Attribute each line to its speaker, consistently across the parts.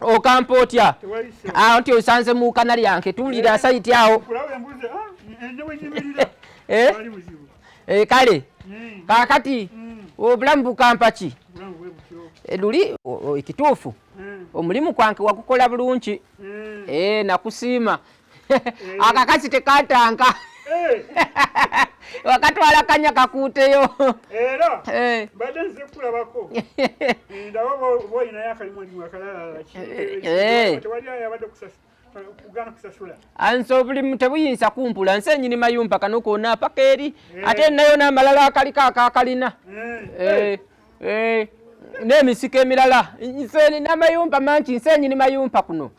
Speaker 1: okampa otya awo nti osanze mu kana lyange tuwulira eh? sayiti awo kale kakati obulamu bukampa ki luli ekituufu omulimu kwange wakukola bulungi nakusiima akakasi tekatanka eh. wakatwala kanya kakuuteyo era
Speaker 2: eh. mbadde nze kulabako ndaba boyinayo akalimu alimu akalalaki tewali ayabadde kusasa anso obulimu
Speaker 1: tebuyinza kumpula nsi enyini mayumba kano kona paka eri eh. ate nayo namalala akaliko akakalina eh. Eh. nemisiko emirala nsi namayumba mangi nsi enyini mayumba kuno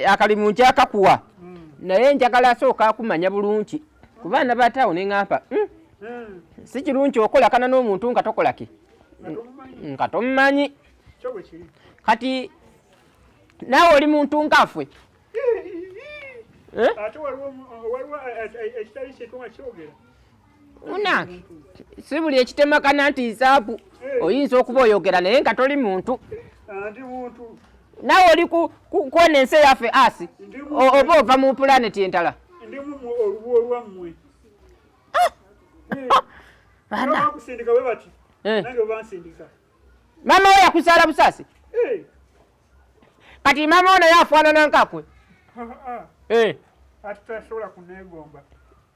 Speaker 1: akalimu nkyakakuwa hmm. naye njagala asooka akumanya bulungi ku baana ba taawo ne ŋampa hmm? hmm. si kirungi okolakana n'omuntu nga tokolaki nga tomumanyi kati naawe oli muntu ngafwe eh?
Speaker 2: ate waliwo ekitali kyetu nga kyogera una
Speaker 1: si buli ekitemakana nti nsaabu eh. oyinza okuba oyogera naye nga toli muntu
Speaker 2: nawe oli
Speaker 1: kwona ensi eyaffe asi oba ova mu pulaneti entala
Speaker 2: mama
Speaker 1: oyo akusaala busasi eh. kati mama ono yafaanana nkakwe ah, ah. eh.
Speaker 2: ati tasobola kunegomba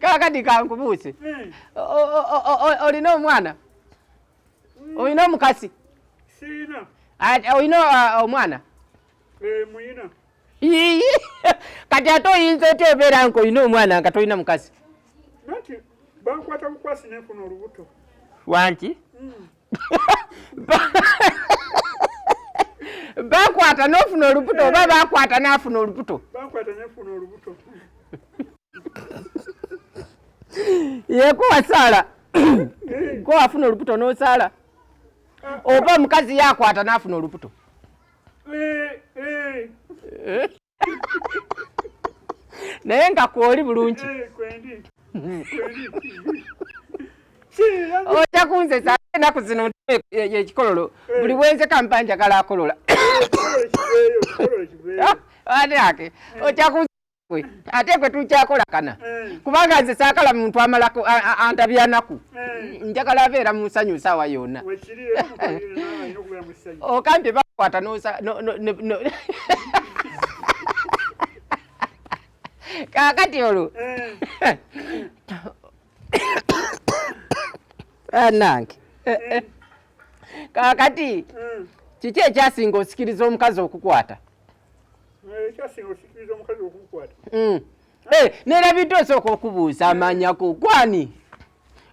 Speaker 2: kakati
Speaker 1: kankubuuse olina omwana olina omukasi
Speaker 2: olina
Speaker 1: uh, omwana kati ate oyinza otya obeera nka olina omwana nga tolina mukasi
Speaker 2: bankwata bukwasi nenfuna olubuto wanki
Speaker 1: hmm. bakwata nofuna olubuto oba bakwata nafuna olubuto yeko wasaala ko wafuna olubuto nosaala oba omukazi yakwata nafuna olubuto eh, eh. Eh? naye nga kwoli bulungi oja kunzesa enaku zino yekikololo buli bwenze kampa njagala akolola ake oja kunzekwe ate kwe tukyakolakana kubanga nze sakala muntu amalako antabyanaku eh. njagala abeera mu nsanyu nsaawa yonna okambye bakwata kakati olwo anange eh. eh, kakati hmm. kiki ekyasinga osikiriza omukazi okukwata ekyasinga osikiriza omukazi okukwata
Speaker 2: hmm. Hey, eh,
Speaker 1: nerabidde osooka okubuuza amanya ku gwani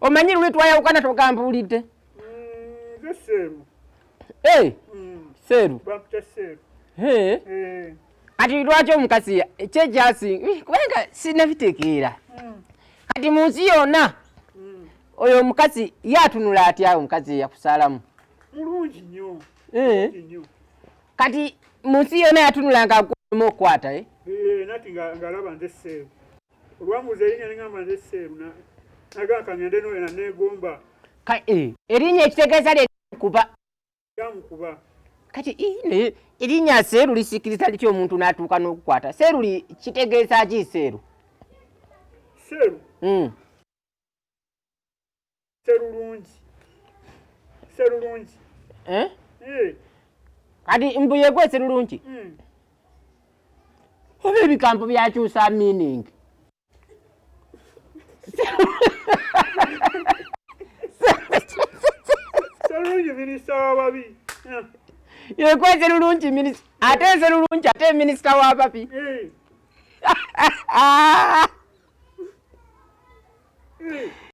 Speaker 1: omanyi luli twayawukana togambuulidde
Speaker 2: mm, hey, eh, mm.
Speaker 1: seeru hey. Eh.
Speaker 2: hey.
Speaker 1: kati lwaki omukazi kyekyasi kubanga sinabitegeera mm. kati mu nsi yonna oyo omukazi yatunula atya omukazi yakusaalamu mulungi
Speaker 2: nyo Eh. Kati
Speaker 1: munsi yona yatunulanga mu okwata eh. Eh, nati nga
Speaker 2: ngalaba nze seeru. Olwamuza erinya ngamba nze seeru na naga kangende no ena negomba. Ka eh.
Speaker 1: Erinya ekitegeza le kuba. Yamu kuba.
Speaker 2: Kati
Speaker 1: ine erinya seeru lisikiriza lityo omuntu natuka no kukwata. Seeru li kitegeza ki seeru? Seeru. Mm. serulungi
Speaker 2: serulungi eh? eh.
Speaker 1: kati mbu yegwe serulungi hmm. oba ebigambo byakyusa meaning serulungi
Speaker 2: minisita wababi eh.
Speaker 1: yegwe serulungi ate serulungi ate minisita wababi